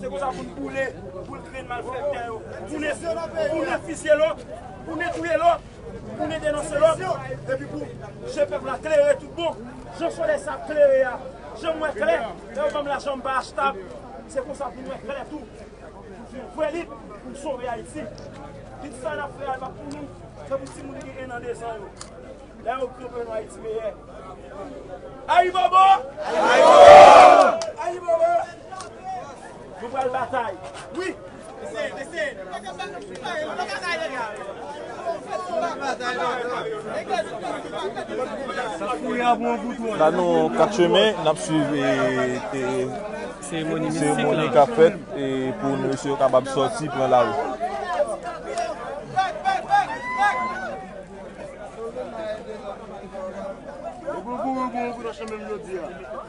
Se konsa pou n boule boul grenn malfèktè yo, pou n pou n fisye lòt, pou n touye lòt, pou n denonse lòt, epi pou je pèp la klere tout bon. Jan solèy sa ap klere a, je m wè klè, lè yo ban m lajan m pa achtab, se konsa pou n wè klè tou, pou fè yon vrè lit pou n sove Ayiti. Lit sa n ap fè a pa pou nou, se pou timoun ki gen ennan, dezan yo, lè yo konprann yon Ayiti meyè. Ayibobo! La nou an kat chemen, n ap swiv seremoni k ap fèt pou mesye yo kapab sòti pran lari.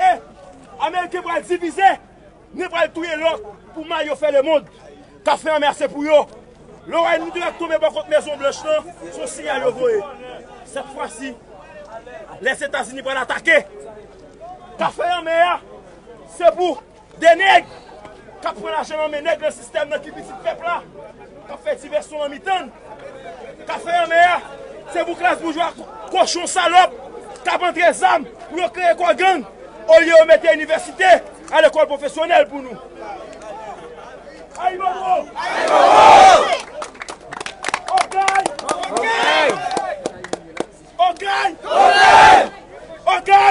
E ameriken pral divize ni pral touye lòt pou mal yo fè lemond kap fè anmè a se pou yo loray nou te ap tonbe bò kot mezon blanch lan son siyal yo voye sèt fwa si lèzetazini pral atake kap fè anmè a se pou. 2 nèg kap pran lajan nan men nèg nan sistèm nan ki pitit pèp la kap fè divèsyon nan mitann kafe anmè a se pou klas boujwa kochon salòp kap antre zam pou yo kreye kò gang olye yo mete inivèsite a lekòl pwofesyonèl pou nou Ayibobo Okay Okay Okay Okay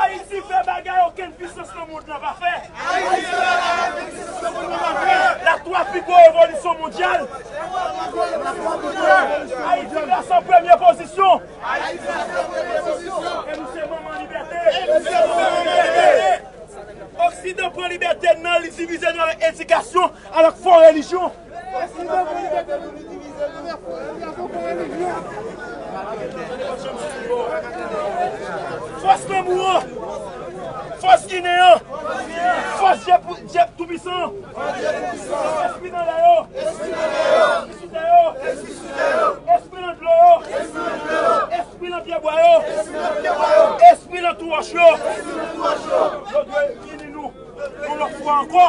Ayiti fè bagay okenn pisans nan mond lan pa fè. Ayiti fè bagay okenn pisans nan mond lan pa fè. La twa pi gwo revolisyon mondyal. La twa pi gwo revolisyon mondyal. Ayiti plas an premye pozisyon. Ayiti plas an premye pozisyon. E nou se manman libète. E nou se manman libète. Oksidan pran libète n nan li divize nou avèk edikasyon, avèk fo relijyon. Fòs Tanbou an! Fòs Ginen an! Fòs Dye Toupisan an! Espri nan lè yo! Espri sou tè yo! Espri nan dlo yo! Espri nan pyebwa yo! Espri nan tou wòch yo! Yo dwe ini nou yon lòt fwa ankò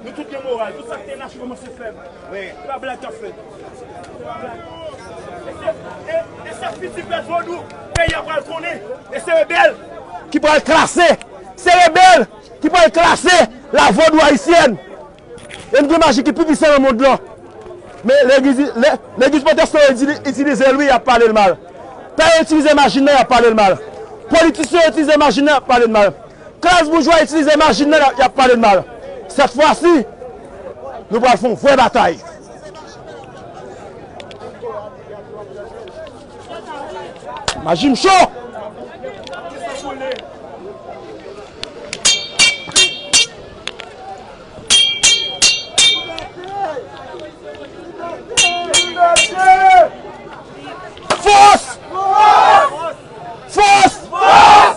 Nou tout gen moral, tout sak te lache komanse fèb. Se pa blag kap fèt. Se pa blag. E se fiti pèp vodou peyi a pral konnen. E se rebèl ki pral klase. Se rebèl ki pral klase la vodou ayisyèn. E nou gen maji ki pi pisan nan mond lan. Men legliz pwotestan yo itilize l wi yap pale l mal. Pè yo itilize maji nan yap pale l mal. Politisyen yo itilize maji nan yap pale l mal. Klas boujwa itilize machin nan y ap pale n mal. Sèt fwa si, nou pral fè yon vrè batay. Maji m cho! Fòs! Fòs! Fòs! Fòs!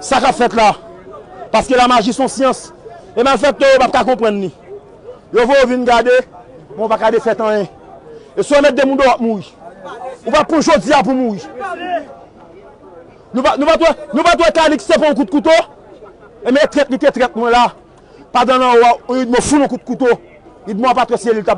Sa kap fèt la, paske la maji son syans, e malfèktè yo pap ka konprann li. Yo voye w vin gade, men w pa ka defèt anyen. E si w mèt demoun deyo wap mouri. Ou pa pran jodi a pou mouri. Nou pat wè Kalix te pran yon kout kouto? E men e trèt li te trèt mwen la, padan lan ou a, idmo foul yon kout kouto, idmo a pa trèt se li l tap.